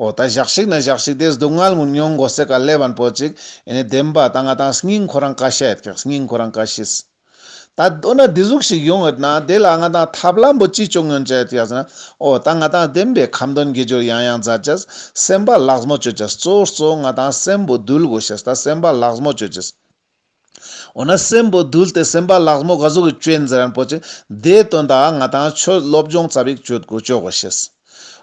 ཨོ་ད་བཞག་ཤིག་ན་བཞག་ཤིག་དེ་སྡུག་བསྔལ་མུན་མྱོང་མགོ་སེར་ཀ་ལེ་བར་འཕོ་ཅིག་ཨེ་ནས་བདེན་པ་ད་ང་དང་སྙིང་ཁོ་རང་ཀ་ཤས་ཀྱི་སྙིང་ཁོ་རང་ཀ་ཤིས། ད་འོ་ན་བདེ་གཟུགས་ཤིག་ཡོང་ཡོད་ན་དེ་ལ་ང་དང་ཐབས་ལམ་པོ་ཅི་བྱུང་ངོ་འཇལ་ཏེ་ཡག་ཟེར་ན་ཨོ་ད་ང་དང་བདེན་པའི་ཁམས་དོན་དགེ་སྦྱོར་ཡང་ཡང་མཛད་ཅིག་སེམས་པ་ལགས་མོ་སྤྱོད་ཅིག་གཙོ་གཙོ་ང་དང་སེམས་པོ་འདུལ་དགོས་ཤིག་ད་སེམས་པ་ལགས་མོ་སྤྱོད་ཅིག། འོ་ན་སྲས་འབོ་དུལ་དེ་སེམས་དཔའ་ལགས་མོ་ག་གཟུགས་ཀྱི་སྐྱོན་འཛིན་རན་པོ་ཆེ་དེའི་དོན་དག་ང་དང་ཆོས་སློབ་སྦྱོང་རྩ་བའི་གཅོད་དགོས་གཅོད་དགོས་ཤེས།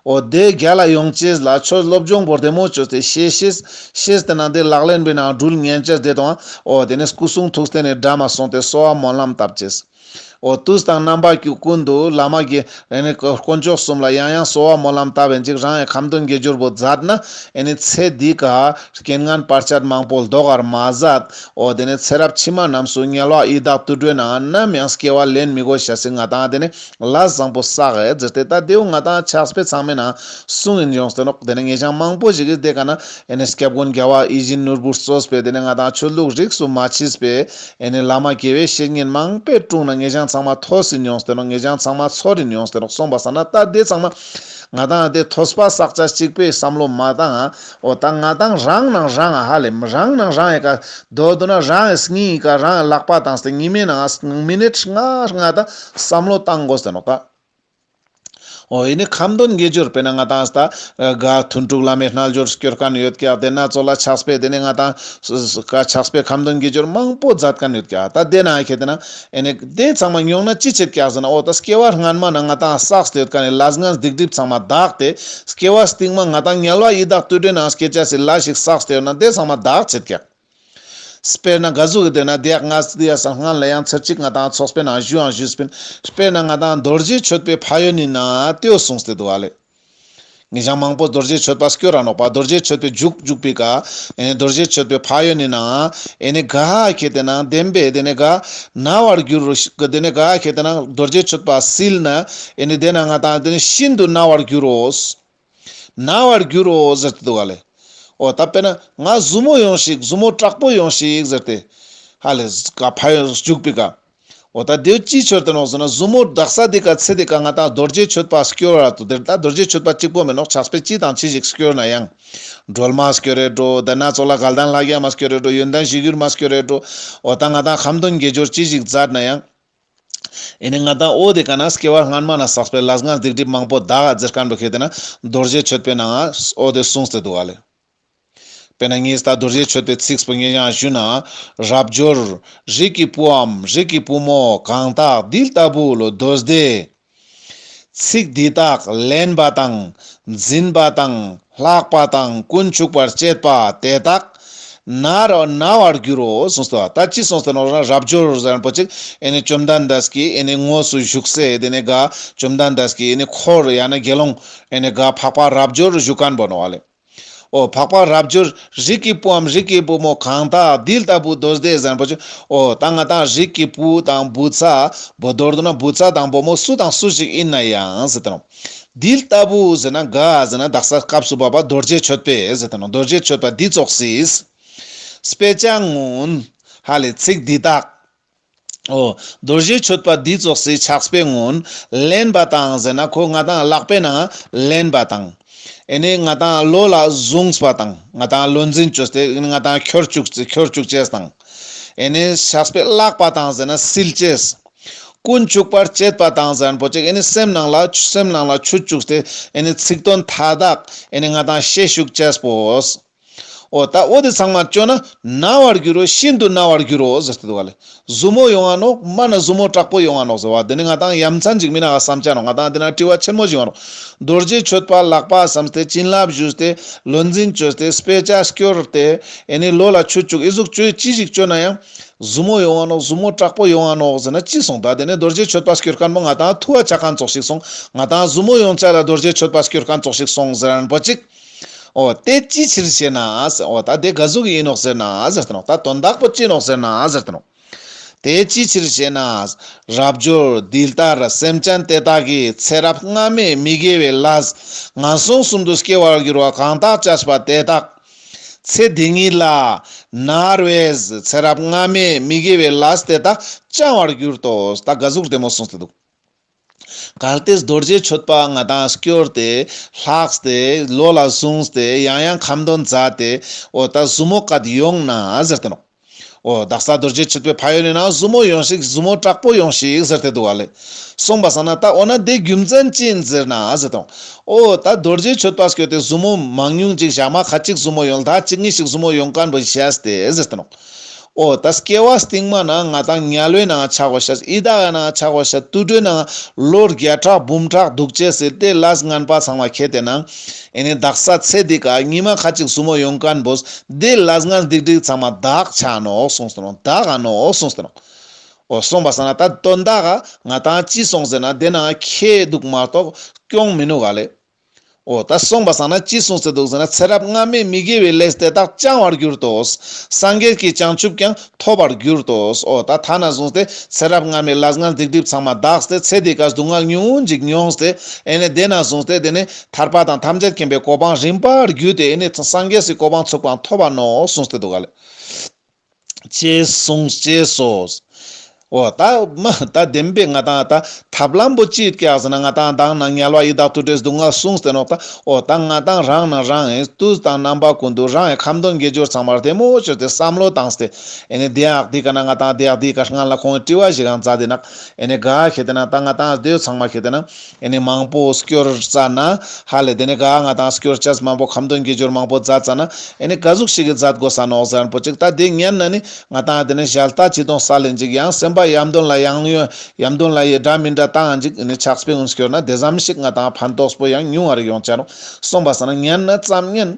འོ་དེ་རྒྱ་ལ་ཡོང་བྱས་ལ་ཆོས་སློབ་སྦྱོང་བོར་དེ་མོ་ཆོས་དེ་ཤེས་ཤེས་ཤེས་དེ་ནང་དེ་ལག་ལེན་པའི་ནང་སྦྲུལ་ངན་བྱས་དེ་དང་འོ་དེ་ནས་སྐུ་གསུང་ཐུགས་རྟེན་ནས་སྒྲ་མ་གསུངས་དེ་གསོལ་བ་སྨོན་ལམ་བཏབ་བྱས། འོ་དུས་དང་རྣམ་པར་གྱུར་ཀུན་ཏུ་བླ་མ་དགེ། རེ་ནས་དཀོན་མཆོག་གསུམ་ལ་ཡང་ཡང་གསོལ་བ་སྨོན་ལམ་བཏབ་པའི་འཇིགས་རང་ཡེ་ཁམས་སྟོན་དགེ་སྦྱོར་བུ་མཛད་ན། ཨེ་ནི་ཚེ་འདི་ཀ། རྐྱེན་ངན་བར་ཆད་མང་པོ་བཟློག་བར་མ་མཛད། འོ་དེ་ནས་ཚེ་རབས་ཕྱི་མ་རྣམས་སུ་ཉལ་བ་ཨི་དྭགས་བཏུལ་འགྲོའི་ནང་ནམ་ཡང་སྐྱེ་བ་ལེན་མི་དགོས་ཞེས་སྲིད་ང་དང་དེ་ནི་ལ་བཟང་པོ་བསགས་ཨེ་ཛིར་དེ་ལྟ་རྡེའུ་ང་དང་ཕྱག་སྤེ་ཚང་མའི་ནང་སྲུང་ཨིན་ཡོངས་སྟོན་རོགས་དེ་ནས་ངེད་ཅག་མང་པོ་ཞིག་གིས་དེ་ཀ་ན་ཨེ་ནི་སྐྱབས་མགོན་རྒྱལ་བ་ཨི་བཞིན་ནོར་བུར་གསོལ་སྤེ་དེ་ནས་ང་དང་ཆོས་ལུགས་རིགས་སུ་མ་མཆིས་པའི། ཨེ་ནས་བླ་མ་དགེ་བའི་བཤེས་གཉེན་མང་པས་དཀྲུགས་ན་ངེད་ཅག་ཚང་མ་ཐོ་སི་མྱོང་སྟེ་རོགས་ངེད་ཅག་ཚང་མ་ཚོ་རི་མྱོང་སྟེ་རོགས་སོང་པ་ས་ན་ད་དེ་ཚང་མ་ང་དང་དེ་ཐོ་སི་པ་བསགས་ཆ་གཅིག་པས་བསམ་བློ་མ་བཏང་ཨ་ཨོ་ད་ང་དང་རང་ནང་རང་ཨ་ཧ་ལས་མི་རང་ནང་རང་ཨེ་ཀ་དོ་དོ་ན་རང་ཨེ་སི་ཉིན་ཨི་ཀ་རང་ཨེ་ལག་པ་དང་སྟེ་ཉི་མའི་ནང་ཨ་སི་ངང་མི་ནས་ཁྲི་ང་ཨ་ཧྲི་ང་ད་བསམ་བློ་བཏང་དགོ་སྟེ་རོགས་ད། ཨོ་ཡེ་ནི་ཁམས་དོན་གྱི་སྦྱོར་བས་ན་ང་དང་ས་ག་དུན་དྲུག་བླ་མའི་རྣལ་འབྱོར་སྐྱོར་ག་ནི་ཡོད་ཀྱི་དེ་སྣ་ཚོགས་ལ་ཆགས་པས་དེ་ནི་ང་དང་ས་ག་ཆགས་པས་ཁམས་དོན་གྱི་སྦྱོར་མང་པོ་མཛད་ག་ནི་ཡོད་ཀྱི་ད་དེ་ན་ཨེ་ཁེ་དེ་ན་ཨེ་ནི་དེ་ཚང་མ་མྱོང་ན་ཅི་བྱེད་ཀྱི་ཟེར་ན་ཨོ་ད་སྐྱེ་བ་སྔ་མ་ན་ང་དང་ས་ག་ཡོད་ག་ནི་ལ་སྔགས་སྡིག་སྒྲིབ་ཚང་མ་དག་སྟེ་སྐྱེ་བ་སྟིང་མ་ང་དང་ཉལ་བ་ཡི་དྭགས་བཏུས་སྦྲེལ་ན་སྐྱེ་བྱ་སྲིད་ལ་ཞིག་ས་ག་ཡོད་ན་དེ་ཚང་མ་དག་བྱེད་ཀྱི། དཔེར་ན་དགའ་གཟུགས་ཀྱི་དོན་ན་བདེ་ཡག་ང་སྡུག་ཡག་སང་སྔ་ལ་ཡང་ཚེ་གཅིག་ང་དང་ཚོགས་པའི་ནང་བཞུགས་ཨང་བཞུགས་སྤིན། དཔེར་ན་ང་དང་རྡོ་རྗེ་མཆོད་པའི་ཕ་ཡོད་ནི་ན་ཏེའོ་གསུངས་སྟེ་དུ་བ་ལས། ངེས་བྱང་མང་པོ་རྡོ་རྗེ་མཆོད་པ་སྐྱོ་ར་ནོག་པ་རྡོ་རྗེ་མཆོད་པའི་འཇུག་འཇུག་པའི་དགའ། རྡོ་རྗེ་མཆོད་པའི་ཕ་ཡོད་ནི་ན་ཨེ་ནི་དགའ་ཁྱེད་དེ་ན་བདེན་པས་དེ་ནི་དགའ། ན་བར་འགྱུར་རོ་ཤི་དེ་ནི་དགའ་ཁྱེད་དེ་ན་རྡོ་རྗེ་མཆོད་པ་སིལ་ན་ཨེ་ནི་དེ་ན་ང་དང་དེ་ནི་ཤིན་ཏུ་ན་བར་འགྱུར་རོ། ན་བར་འགྱུར་རོ་ཟེར་དུ་འདུག་ཨ་ལས། ཨོ་ད་པེ་ན་ང་བཟུ་མོ་ཡོང་ཞིག་བཟུ་མོ་དྲག་པོ་ཡོང་ཞིག་ཟེར་ཏེ། ཧ་ལས་ཟེར་ག་ཕ་ཡོང་བཅུག་པི་ག། ཨོ་ད་དེའུ་ཅིའི་ཆོད་དེ་ནོག་ཟེར་ན་བཟུ་མོ་དྲག་ས་དེ་ག་ཚེ་དེ་ག་ང་ད་རྡོ་རྗེ་ཆོད་པ་སྐྱོ་ར་དུ་དེར་ད་རྡོ་རྗེ་ཆོད་པ་གཅིག་པོ་མེད་ནོག་ཆགས་པས་ཅི་དང་ཅི་ཞིག་སྐྱོ་ན་ཡང། སྒྲོལ་མ་སྐྱོ་རེ་འགྲོ་དེ་ན་ཚོགས་ལ་ག་ལྡང་ལྷ་རྒྱལ་མ་སྐྱོ་རེ་འགྲོ་ཡོན་ཏན་ཞི་གུར་མ་སྐྱོ་རེ་འགྲོ། ཨོ་ད་ང་ད་ཁམ་སྟོན་དགེ་སྦྱོར་ཅི་ཞིག་མཛད་ན་ཡང། ཨེ་ནས་ང་དང་ཨོ་དེ་ག་ན་སྐྱེ་བ་སྔར་མ་ན་བསགས་པའི་ལ་སྔར་སྡིག་སྒྲིབ་མང་པོ་དག་རྫི་དཀར་འདུག་ཤེས་དེ་ན་རྡོ་རྗེ་ཆོད་པས་ན་ང་ཨོ་དེ་གསུངས་ཏེ་འདུག་ག་ལས། དཔེར་ན་ངས་ད་རྡོ་རྗེ་ཆོད་པའི་ཚིགས་བུ་ངེས་ཀྱང་ཞུས་ན། རབ་འབྱོར། རིགས་ཀྱི་བུའམ་རིགས་ཀྱི་བུ་མོ་གང་དག་འདི་ལྟ་བུ་ལོ་རྡོ་རྫེ། ཚིག་འདི་དག་ལེན་པ་དང་འཛིན་པ་དང་ལྷག་པ་དང་ཀུན་ཆུག་པར་སྤྱད་པ་དེ་དག་ན་ར་ན་བར་འགྱུར་རོ་གསུངས་སོ། ད་ཅི་གསུངས་སོ་ན་རབ་འབྱོར་རིན་པོ་ཆེ་བཅོམ་ལྡན་འདས་ཀྱི་དངོས་སུ་བཞུགས་སའི་དེ་ནས་བཅོམ་ལྡན་འདས་ཀྱི་འཁོར་ཡང་ན་དགེ་སློང་འགའ་འཕགས་པ་རབ་འབྱོར་བཞུགས་ཀ་ནས་བོར་ནོ། ཨོ། འཕགས་པ་རབ་འབྱོར་རིགས་ཀྱི་བུའམ་རིགས་ཀྱི་བུ་མོ་གང་དག་འདི་ལྟ་བུའི་རྡོ་རྗེ་བཟང་པོ་ཆོས་འོ་དང་ང་དང་རིགས་ཀྱི་བུ་དང་བུ་ཚ། བུ་རྡོར་དུ་ན་བུ་ཚ་དང་བུ་མོ་སུ་དང་སུ་ཞིག་ཡིན་ན་ཡང་ཟེར་དང། འདི་ལྟ་བུ་ཟེར་ན་འགའ་ཟེར་ན་དག་ས་སྐབས་སུ་བབ་པ་རྡོ་རྗེ་ཆོད་པས་ཟེར་དང་རྡོ་རྗེ་ཆོད་པ་འདི་རྫོགས་སྲིད། པའི་བྱ་ངུནཧ་ལས་ཚིག་འདི་དག། རྡོ་རྗེ་མཆོད་པ་འདི་རྫོགས་སའི་ཕྱག་སྤེལ་སྔོན་ལེན་པ་དང་ཟེར་ན་ཁོ་ང་དང་གླགས་སྤེལ་ན་ལེན་པ་དང། ཨེ་ནས་ང་དང་བློ་ལ་བཟུང་པ་དང་ང་དང་བློ་འཛིན་བཅོས་ཏེ་ང་དང་ཁྱོད་བཅུག་ཅེས་དང། ཨེ་ནས་ཕྱག་སྤེལ་བརླག་པ་དང་ཟེར་ན་སིལ་ཅེས། ཀུན་བཅུག་པར་བྱེད་པ་དང་ཟེར་ན་པོ་ཅེས་ཨེ་ནས་སེམས་ནང་ལ་ཆུ་བཅུག་སྟེ་ཨེ་ནས་ཚིག་དོན་མཐའ་དག་ཨེ་ནས་ང་དང་ཤེད་བྱུག་ཅེས་པོ། ཨོ་ད་ཨོ་དེ་ཚང་མ་སྤྱོད་ན་ན་བར་འགྱུར་རོ་ཤིན་ཏུ་ན་བར་འགྱུར་རོ་ཟེར་ཏེ་འདུག་ག་ལ། གཟུ་མོ་ཡོང་བ་ནོ་སྨྲ་ན་གཟུ་མོ་དྲག་པོ་ཡོང་བ་ནོ་ཟེར་བ་འདི་ནི་ང་དང་ཡ་མཚན་ཅིག་མིན་ཨ་བསམ་བྱ་ནོ་ང་དང་འདི་ན་དཀྲི་བ་ཆེན་མོ་ཞིག་ཡོང་རོགས། རྡོ་རྗེ་ཆོས་པ་ལགས་པ་བསམ་སྟེ་བྱིན་རླབས་བཞུས་ཏེ་བློ་འཛིན་བཅོས་ཏེ་སྤེ་ལྕག་བསྐྱོར་ཏེ་ཨེ་ནི་ལོ་ལ་ཆུ་བཅུག་ཨི་གཟུགས་སྤྱོད་ཅི་ཞིག་སྤྱོད་ན་ཡང། གཟུ་མོ་ཡོང་བ་ནོ་གཟུ་མོ་དྲག་པོ་ཡོང་བ་ནོ་ཟེར་ན་ཅི་གསུང་ད་དེ་ནས་རྡོ་རྗེ་ཆོས་པ་སྐྱོད་མཁན་པོ་ང་དང་ཐུ་བ་ཆ་གང་བཙོག་ཞིག་སོང་ང་དང་གཟུ་མོ་ཡོང་བྱ་ལ་རྡོ་རྗེ་ཆོས་པ་སྐྱོད་མཁན་བཙོག་ཞིག་སོང་ཟེར་རན་པོ་ཅིག། ཨོ། དེ་ཅིའི་ཕྱིར་ཞེ་ན། ཨོ། ད་དེ་ག་གཟུགས་ཡིན་ནོ་ཟེར་ན། ད་དོན་དག་པོ་ཅི་ནོ་ཟེར་ན། དེ་ཅིའི་ཕྱིར་ཞེ་ན། རབ་འབྱོར། འདི་ལྟར་སེམས་ཅན་དེ་དག་གི་ཚེ་རབས་སྔ་མས་མི་དགེ་བའི་ལྷ། ངན་སོང་གསུམ་དུ་སྐྱེ་བར་འགྱུར་བ་གང་དག་བྱ་བ་དེ་དག། ཚེ་འདི་ཉིད་ལ། ནར་བའི། ཚེ་རབས་སྔ་མས་མི་དགེ་བའི་ལྷ་དེ་དག་བཅང་བར་གྱུར་ཏོ། ད་ག་གཟུགས་བདེ་མོ་གསུངས་ཏེ་འདུག། གར་སྟེགས་རྡོ་རྗེ་མཆོད་པ་ལྔ་དང་སྐྱོར་ཏེ། ལྷགས་ཏེ་ལོ་ལ་བཟུང་སྟེ་ཡང་ཡང་ཁ་འདོན་མཛའ་སྟེ། འོ་ད་བཟུ་མོ་ག་དུས་ཡོང་ན་ཟེར་ཏེ་འོ། བདག་ས་རྡོ་རྗེ་མཆོད་པའི་ཕ་ཡུལ་ནས་ན་བཟུ་མོ་ཡོང་ཞིག་བཟུ་མོ་དྲག་པོ་ཡོང་ཞིག་ཟེར་ཏེ་འདུག་བ་ལས། གསུངས་པ་བསམ་ན་ད་འོ་ན་དེའི་རྒྱུ་མཚན་ཅི་ཡིན་ཟེར་ན་ཟེར་ཏེ་འོ། འོ་ད་རྡོ་རྗེ་མཆོད་པ་སྐྱོར་ཏེ་བཟུ་མོ་མང་ཉུང་ཅིག་བཞག་མ་ག་ཅིག་བཟུ་མོ་ཡོང་ལ་ད་གཅིག་གཉིས་ཤིག་བཟུ་མོ་ཡོང་ག་འགྲོ་ཞེས་ཏེ་ཟེར་ཏེ་འོ། ཨོ་ད་སྐྱེ་བ་སྟེང་མ་ནང་ང་དང་ཉལ་བའི་ནང་ཆགས་བྱ་ཨི་ད་ག་ནང་ཆགས་བྱ་ཏུ་ཏྲོའི་ནང་ལོ་བརྒྱ་ཕྲག་འབུམ་ཕྲག་འདུག་བྱས་ཟེར་ཏེ་བླ་སྔན་པ་ཚང་བ་ཁྱེད་དེ་ན་ཨེ་ནི་བདག་ས་ཚེ་འདི་ག་ཉི་མ་ཁ་ཅིག་སུ་མོ་ཡོང་ག་འབོ་སྡེ་བླ་སྔན་སྡིག་སྒྲིག་ཚང་མ་བདག་ཆ་ནོ་གསུངས་སོ་ནོ་བདག་ག་ནོ་གསུངས་སོ་ནོ། ཨོ་གསུངས་པ་ས་ན་ད་དོན་བདག་ག་ང་དང་ཅི་གསུངས་ཟེར་ན་དེ་ནང་ཁྱེད་འདུག་མ་གཏོགས་སྐྱོང་མི་ནུས་ག་ལས། འོ་ད་གསུངས་པ་བསམ་ན་ཅི་གསུངས་ཟེར་འདུག་ཟེར་ན་ཚེ་རབས་སྔ་མའི་མི་དགེ་བའི་ལས་དེ་དག་བཅང་བར་གྱུར་ཏོ། སངས་རྒྱས་ཀྱི་བྱང་ཆུབ་ཀྱང་ཐོབ་པར་གྱུར་ཏོ། འོ་ད་ཐ་ན་གསུངས་ཏེ་ཚེ་རབས་སྔ་མའི་ལག་སྔགས་སྡིག་སྒྲིབ་ཚང་མ་འདགས་ཏེ་ཚེ་འདི་ཀ་སྡུག་བསྔལ་ཉུང་ངུ་འཇིག་མྱོང་སྟེ་ཨེ་ནས་དེ་ན་གསུངས་ཏེ་དེ་ནས་ཐར་པ་དང་ཐམས་ཅད་མཁྱེན་པའི་གོ་འཕང་རིམ་པར་བརྒྱུད་དེ་ཨེ་ནས་སངས་རྒྱས་སུ་གོ་འཕང་ཚུགས་པ་མཐོ་བ་ནོ་གསུངས་ཏེ་འདུག་ག་ལས། ཅེས་གསུངས་ཅེས་སོ། འོ་ད་མ་ད་བདེན་པའི་ང་དང་ད་ཐབས་ལམ་པོ་ཅིས་སྐྱེ་བ་ཟེར་ན་ང་དང་བདག་ན་ཉལ་བ་ཡི་དྭགས་དུ་འདྲེས་སྡུག་བསྔལ་གསུངས་ཟེར་རོགས་ད་འོ་ད་ང་དང་རང་ན་རང་ཨེ་ཏུས་དང་རྣམ་པ་ཀུན་ཏུ་རང་ཨེ་ཁམ་སྡོང་དགེ་སྦྱོར་ཚང་མར་དེ་མོ་ཅོ་དེ་བསམ་བློ་བཏང་སྟེ་ཨེ་ནི་བདེན་ཨག་དེ་ག་ན་ང་དང་བདེ་ཨག་དེ་ག་སྔ་ལ་ཁོང་གི་དཀྲི་བ་ཞིག་ཨང་རྩ་དེ་ནག་ཨེ་ནི་ག་ཨག་ཤེས་དེ་ན་ད་ང་དང་ཨ་སྡོད་ཚང་མ་ཤེས་དེ་ན་ཨེ་ནས་མང་པོ་སྐྱོར་རྩ་ན། ཧ་ལས་དེ་ནས་ག་ང་དང་སྐྱོར་ཅཱས་མང་པོ་ཁམ་དོན་དགེ་སྦྱོར་མང་པོ་མཛད་རྩ་ན། ཨེ་ནས་ག་གཟུགས་ཤིག་གིས་མཛད་དགོས་ས་ནོག་ཟན་པོ་ཅིག་ད་དེ་ཉན་ན་ནི། ང་དང་དེ་ནས་གཞལ་བལྟ་ཅི་དང་ས་ལས་འཇིག་ཡང་སེམས་པ་ཡམ་དོན་ལ་ཡང་ཡོན་ཡམ་དོན་ལ་ཡི་དགྲ་མི་འདྲ་དང་འཇིག་ཨེ་ནས་ཆགས་པའི་ངོ་སྐྱོར་ན་དེ་ཟམ་ཤིག་ང་དང་ཕན་ཐོགས་པོ་ཡང་ཉུང་བར་ཡོང་ཅཱ་རུང་གསུངས་པ་ས་ན་ཉན་ན་བརྩམ་ཉན།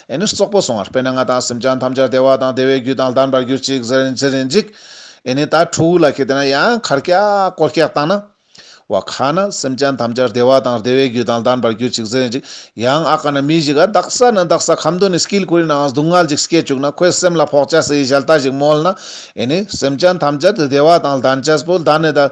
ཨེ་ནི་སོག་པོ་སོང་བར་དཔེར་ན་ང་དང་སེམས་ཅན་ཐམས་ཅད་བདེ་བ་དང་བདེ་བའི་རྒྱུ་དང་ལྡན་པར་གྱུར་ཅིག་ཟེར་ཟེར་ནས་འཇིག། ཨེ་ནི་ད་ཁྲོ་བོའི་ལ་ཁད་དེ་ན་ཡང་ཁར་སྐྱ་ཀོར་སྐྱ་བཏང་ན། བ་ཁ་ན་སེམས་ཅན་ཐམས་ཅད་བདེ་བ་དང་བདེ་བའི་རྒྱུ་དང་ལྡན་པར་གྱུར་ཅིག་ཟེར་ནས་འཇིག། ཡང་ཨ་ཁ་ན་མི་ཞིག་ཨ་བདག་ས་ན་བདག་ས་ཁམ་དུ་ནི་སྐྱིལ་ཀོལ་ནའང་སྡུག་བསྔལ་ཅིག་སྐྱེས་བཅུག་ན་ཁོའི་སེམས་ལ་ཕོག་བྱ་སའི་ཞལ་ལྟ་ཞིག་མོལ་ན། ཨེ་ནི་སེམས་ཅན་ཐམས་ཅད་བདེ་བ་དང་ལྡན་བྱས་པོ་ལྡན་ནས་ད།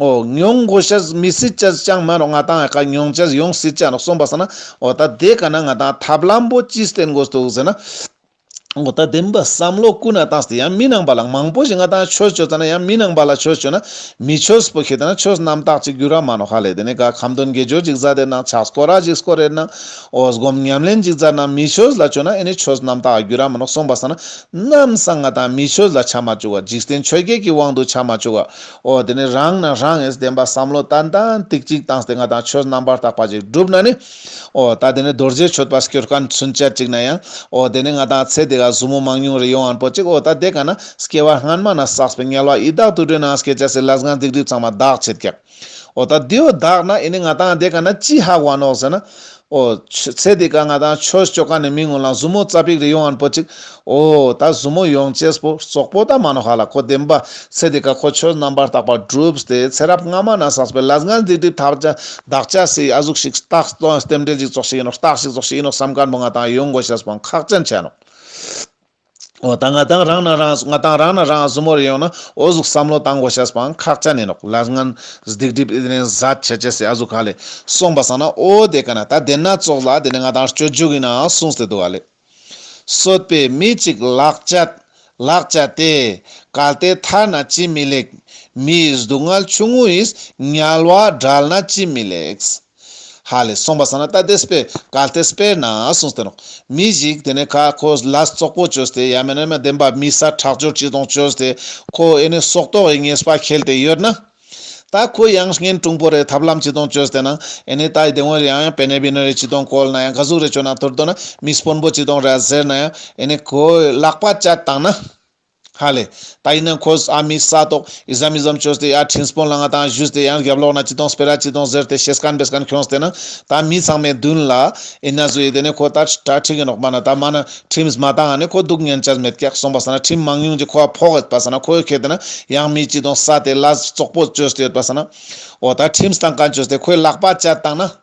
ཨོ། མྱོང་གོ་ཤ་ཟ་མི་སྲིད་ཅེས་ཀྱང་སྨྲ་རོགས་ང་དང་ཨ་ཁ་མྱོང་བྱེད་ཡོང་སྲིད་ཅེས་གསུངས་པ་ཟ་ན་ཨོ་ད་དེ་ག་ན་ང་དང་ཐབས་ལམ་པོ་ཅི་སྟེ་འགོ་བཙུགས་ཟེར་ན་ཨོ་ད་དེ་འབའ་བསམ་བློ་ཀུན་ན་དང་སྟེ་ཡང་མི་ནང་པ་ལ་མང་པོ་ཞིག་ང་དང་ཆོས་བྱོས་ཙ་ན་ཡང་མི་ནང་པ་ལ་ཆོས་བྱོས་ན་མི་ཆོས་སྤུ་ཁེ་ད་ན་ཆོས་རྣམ་དག་ཅིག་གུ་ར་མ་ནོ་ཧ་ལས་དེ་ནས་ག་ཁམ་དོན་དགེ་སྦྱོར་ཅིག་ཟ་དེ་ནང་ཕྱག་སྐོར་ར་ཅིག་སྐོར་རེ་ནང་ཨོ་སྒོམ་ཉམས་ལེན་ཅིག་ཛར་ནང་མི་ཆོས་ལ་བྱོས་ན་ཨེ་ནི་ཆོས་རྣམ་དག་གུ་ར་མ་ནོ་གསུངས་པ་ཟ་ན་ནམ་སང་ང་དང་མི་ཆོས་ལ་ཆ་མ་བཅུག་ག་འཇིག་རྟེན་ཆོས་བརྒྱད་ཀྱི་དབང་དུ་ཆ་མ་བཅུག་ག་འོ་དེ་ནས་རང་སྣང་རང་ངེས་བདེན་པ་བསམ་བློ་ཏན་ཏན་ཏིག་ཅིག་བཏང་སྟེ་ང་དང་ཁྱོད་རྣམ་པར་དག་པ་ཅིག་བསྒྲུབ་ན་ནི། འོ་ད་དེ་ནས་རྡོ་རྗེའི་མཆོད་པ་སྐྱོར་ག་ཚུན་ཆད་ཅིག་ན་ཡང། འོ་དེ་ནས་ང་དང་ཚེ་འདི་ག་བཟུང་མོ་མང་ཉུང་རེ་ཡོང་བར་པོ་ཅིག་འོ་ད་དེ་ག་ན་སྐྱེ་བ་སྔ་མ་ན་བསགས་པའི་དམྱལ་བ་ཡི་དྭགས་དུད་འགྲོའི་ནང་སྐྱེས་བྱ་སའི་ལ་སྒང་སྡིག་སྒྲིབ་ཚང་མ་བདག་བྱེད་ཀྱི། འོ་ད་དེའོ་བདག་ན་ཨེ་ནི་ང་དང་དེ་ག་ན་ཅི་ཧ་བ་ནོག་ཟེར་ན། ཨོ། ཚེ་འདི་ག་ང་དང་ཆོས་སྤྱོད་ཁང་ནས་མི་ངོ་ལ་མཛུབ་མོ་རྩ་པིག་རེ་ཡོང་ཨན་པོ་ཅིག། ཨོ། ད་མཛུབ་མོ་ཡོང་ཅེས་པོ་ཙོག་པོ་ད་མ་ནོ་ཧ་ལ་ཁོ་བདེན་པ། ཚེ་འདི་ག་ཁོ་ཆོས་རྣམ་པར་དག་པ་བསྒྲུབས་ཏེ་ཚེ་རབས་སྔ་མ་ན་ཟགས་པའི་ལ་ཟངས་འདི་འདྲའི་དག་བྱ་བདག་བྱ་སའི་ཡ་གཟུགས་ཤིག་རྟགས་རྟེན་འབྲེལ་ཞིག་རྫོགས་ཤིག་ཡིན་ནོ་རྟགས་ཤིག་རྫོགས་ཤིག་ཡིན་ནོ་བསམ་དཀར་པོ་ང་དང་ཡོང་དགོས་ཞེས་པའང་ཁག་བཅན་བྱས་ནོ། འོ་ད་ང་དང་རང་ན་རང་ང་དང་རང་ན་རང་གཟུ་མོར་ཡོང་ན་འོ་གཟུགས་བསམ་བློ་དང་གོ་ཤ་སྤང་ཁག་ཅག་ནས་ནོག་ལར་ངན་སྡིག་སྒྲིབ་ཨི་རན་བཟའ་བྱས་བྱས་སེ་ཨ་གཟུགས་ག་ལས་སོང་པ་བསམ་ན་འོ་དེ་ག་ན་ད་དེ་སྣ་ཚོགས་ལ་དེ་ནས་ང་དང་སྤྱོད་འཇུག་ཡིན་ན་གསུངས་སེ་འདུག་ག་ལས། བསོད་པའི་མི་གཅིག་ལག་བཅད་ལག་བཅད་དེ་ག་ལྟའི་མཐར་ན་ཅི་མི་ལེགས། མིའི་སྡུག་བསྔལ་ཆུང་ངུ་ཡིས་ཉལ་བ་བསྒྲལ་ན་ཅི་མི་ལེགས། ཧ་ལས་གསུངས་པ་ཟ་ན་རྟ་དེས་སྤེལ་གལ་ཏེ་སྤེལ་ན་གསུངས་སྟེ། མི་ཞིག་དེ་ནས་ཁ་ཁོ་ལ་ཙོག་པོ་བཅོས་ཏེ་ཡ་མེ་ན་མ་འདེམས་པ་མི་ས་ཁྲག་སྦྱོར་གྱིས་དང་བཅོས་ཏེ་ཁོ་ཨེ་ནས་སྲོག་ཏོག་ཨེ་ངེས་པ་ཁེལ་ཏེ་ཡོད་ན། ད་ཁོ་ཡང་ངན་གྲུང་པོ་རེད་ཐབས་ལམ་གྱིས་དང་བཅོས་ཏེ་ན་ཨེ་ནས་ད་ཡི་དེ་འོན་རེའང་ཡང་བེ་ནེ་བི་ནོ་རེ་གྱིས་དང་བཀོལ་ན་ཡང་ག་ཟུག་རེ་བཅོས་ན་ཐུར་དོ་ན་མིས་སྤོན་པོ་གྱིས་དང་ར་ཟེར་ན་ཡང་ཨེ་ནས་ཁོའི་ལག་པ་བཅད་བཏང་ན། ཧ་ལས། ད་ཡིན་ན་ཁོས་ཨ་མའི་ས་ཏོག Islamism བཅོས་ཏེ་ཡར་འཕྲིན་སྤོན་ལ་ང་དང་བཞུས་ཏེ་ཡང་རྒྱབ་ལོག་ན་ཅི་དང་སྤེ་ར་ཅི་དང་ཟེར་ཏེ་ཤེས་སྐལ་འབེལ་སྐལ་འཁྱོངས་ཟེར་ན་ད་མི་ཚང་མའི་མདུན་ལ་ཨེ་ན་བཟོ་ཡི་དེ་ནས་ཁོ་ད་ཁྲ་ཁྲིག་ཡིན་རོགས་པ་ན་ད་མ་ན Trims མ་ད་ང་ནི་ཁོ་སྡུག་བསྔལ་ཅར་མེད་སྐྱག་སོང་པ་ཟ་ན Trim མང་ཉུང་གྱི་ཁོ་བ་ཕོག་ཡོད་པ་ཟ་ན་ཁོ་ཡོད་ཁེ་དེ་ན་ཡང་མི་ཅི་དང་ས་དེ་ལ་བཙོག་པོ་བཅོས་ཏེ་ཡོད་པ་ཟ་ན་འོ་ད Trims དང་ག་བཅོས་ཏེ་ཁོའི་ལག་པ་བཅད་བཏང་ན།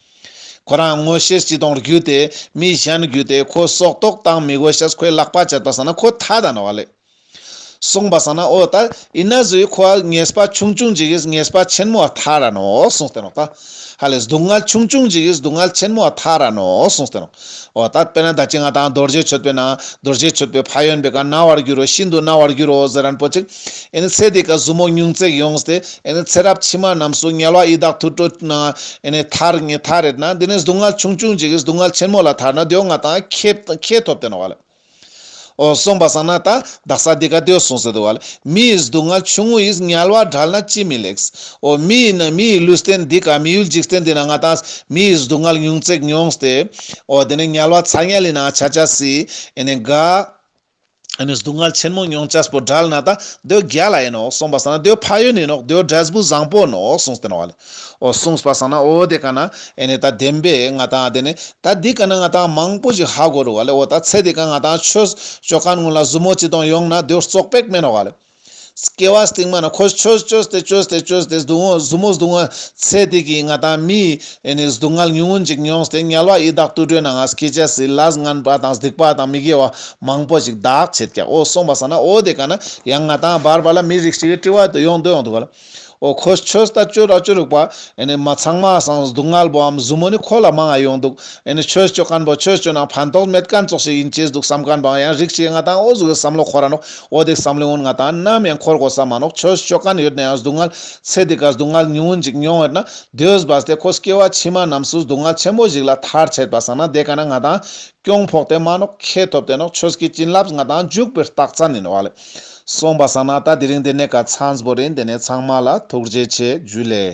ཁོ་རང་དངོས་གཞིར་སྤྱི་དོང་བརྒྱུད་དེ་མི་གཞན་བརྒྱུད་དེ་ཁོ་སྲོག་ཐོག་བཏང་མི་དགོས་ཞེས་ཁོས་ལག་པ་སྦྱར་པ་ཟ་ན་ཁོ་ད་ད་ན་བ་ལས་གསུངས་པ་ཟ་ན་ཨོ་ད་ཡིན་ན་ཟོས་ཁོ་ཨ་ངེས་པ་ཆུང་ཆུང་འཇིག་ཨེས་ངེས་པ་ཆེན་མོ་ཨ་ད་ར་ནོ་གསུངས་སྟེ་ནོ་ད་ཧ་ལས་སྡུག་བསྔལ་ཆུང་ཆུང་འཇིག་ཨེས་སྡུག་བསྔལ་ཆེན་མོ་ཨ་ད་ར་ནོ་གསུངས་ཏེ་ནོ་ཨོ་ད་དཔེར་ན་ད་ཅི་ང་དང་རྡོ་རྗེ་ཆོད་པས་ན་རྡོ་རྗེ་ཆོད་པའི་ཕ་ཡོན་པས་ག་ན་བར་འགྱུར་རོ་ཤིན་ཏུ་ན་བར་འགྱུར་རོ་ཟེར་རན་པོ་ཅིག་ཨེ་ནི་ཚེ་འདི་ཀ་བཟུ་མོ་སྙུང་བརྩེགས་ཡོངས་སྟེ་ཨེ་ནི་ཚེ་རབས་ཕྱི་མ་རྣམས་སུ་དམྱལ་བ་ཡི་དྭགས་ཐུར་དྲོ་ན་ཨེ་ནི་ཐར་ངེས་ཐ་རེད་ན་འདི་ནས་སྡུག་བསྔལ་ཆུང་ཆུང་འཇིགས་སྡུག་བསྔལ་ཆེན་མོ་ལ་ཐར་ན་འདོད་ང་དང་ཁྱེད་ཐོབ་དེ་ན་བ་ལ་ཨོ་གསུངས་པ་སང་ན་ད་བདག་ས་འདི་ཀ་འདོད་གསུངས་ཟེར་དུ་བ་ལ་མི་ཡི་སྡུག་བསྔལ་ཆུང་ངུ་ཡིས་དམྱལ་བ་བསྒྲལ་ན་ཅི་མི་ལེགས། ཨོ་མི་ཡི་ན་མི་ཡི་ལུས་རྟེན་འདི་ཀ་མི་ཡུལ་འཇིགས་རྟེན་འདི་ན་ང་དང་མི་ཡི་སྡུག་བསྔལ་སྙུང་བརྩེགས་མྱོངས་སྟེ། ཨོ་འདི་ནས་དམྱལ་བ་ཚ་དམྱལ་ཡི་ན་ཆ་ཆ་སྲིད་ཨེ་ནི་དགའ། ཨ་ནུས་སྡུག་བསྔལ་ཆེན་མོ་མྱོང་བྱ་སྤུ་དགྲལ་ན་ད་གདོད་རྒྱ་ལ་ཡིན་ནོ་གསུངས་པ་བསམས་ན་གདོད་ཕ་ཡུལ་ནས་ནོ་གདོད་དགྲལ་སྤུ་བཟང་པོ་ནོ་གསུངས་སྟེ་ནོ་འོ་གསུངས་པ་བསམས་ན་འོ་དེ་ག་ན་ཨེ་ནས་ད་བདེན་པས་ང་ད་དེ་ནས་ད་འདི་ག་ན་ང་ད་མང་པོ་ཞིག་ཧ་དགོས་རོ་འོ་ད་ཚེ་འདི་ག་ང་ད་ཆོས་ཕྱོགས་གང་ངོས་ལ་བཟུ་མོ་ཅི་དང་ཡོང་ན་གདོད་བཙོག་པས་སྨད་ནོ་སྐྱེ་བ་སྟིང་མ་ན་ཁོ་ཆོས་ཆོས་སྟེ་ཆོས་སྟེ་ཆོས་སྟེ་སྡུག་མོ་གཟུ་མོ་སྡུག་མོ་ཚེ་འདི་གི་ང་དང་མི་ཡི་སྡུག་བསྔལ་ཉུང་ངུ་ཅིག་མྱོང་སྟེ་དམྱལ་བ་ཡི་དྭགས་དུད་འགྲོའི་ནང་ང་སྐྱེས་བྱས་སྲིད་ལ་སྔངས་པ་དང་སྡིག་པ་དང་མི་དགེ་བ་མང་པོ་ཅིག་བདག་བྱེད་ཀྱང་ཨོ་གསུངས་པ་ཟ་ན་ཨོ་དེ་ག་ན་ཡང་ང་དང་བར་བར་ལ་མི་རིགས་ཤིག་གི་དཀྲི་བ་དུ་ཡོང་དུ་ཡོང་དུ་བ་ལ། ཨོ་ཁོ་ཁྱོས་ད་ཅོ་ར་ཅོ་རིག་པ། མ་ཚང་མ་སང་སྡུག་བསྔལ་བོའམ་བཟུ་མོ་ནི་ཁོ་ལ་མང་ང་ཡོང་འདུག། ཁྱོས་ཅོ་སྐམ་པོ་ཁྱོས་ཅོ་ནང་ཕན་ཐོགས་མེད་སྐམ་ཙོག་ཞིག་ཡིན་སྐྱེས་སྡུག་བསམ་སྐམ་པའང་ཡང་རིག་ཅེས་ང་དང་ཨོ་བཟུ་གི་བསམ་བློ་ཁོ་ར་ནོག་ཨོ་དེ་བསམ་བློའི་ཨོན་ང་དང་ནམ་ཡང་འཁོར་དགོས་ས་མ་ནོག་ཁྱོས་ཅོ་སྐམ་ཡོད་ནའང་སྡུག་བསྔལ་ཚེ་འདི་གར་སྡུག་བསྔལ་ཉུང་ངུ་འཇིག་མྱོང་བས་ན་དུས་བབས་ཏེ་ཁོས་སྐྱེ་བ་ཕྱི་མ་རྣམས་སུ་སྡུག་བསྔལ་ཆེན་པོ་ཞིག་ལ་ཐར་ཆད་པ་སང་ན་དེ་ག་ན་ང་དང་སྐྱོང་ཕོག་དེ་མ་ནོག་ཁྱེད་ཐོབ་དེ་ནོག་ཁྱོས་ཀྱི་བྱིན་རླབས་ང་དང་འཇུག་པའི་རྟགས་མཚན་ནི་ནོག་ཨ་ལེ། སོང་བ་བསམ་ན་ད་དེ་རིང་འདི་ནས་ག་ཚང་པོ་རེད་འདི་ནས་ཚང་མ་ལ་ཐུགས་རྗེ་ཆེ་བརྒྱུད་ལས།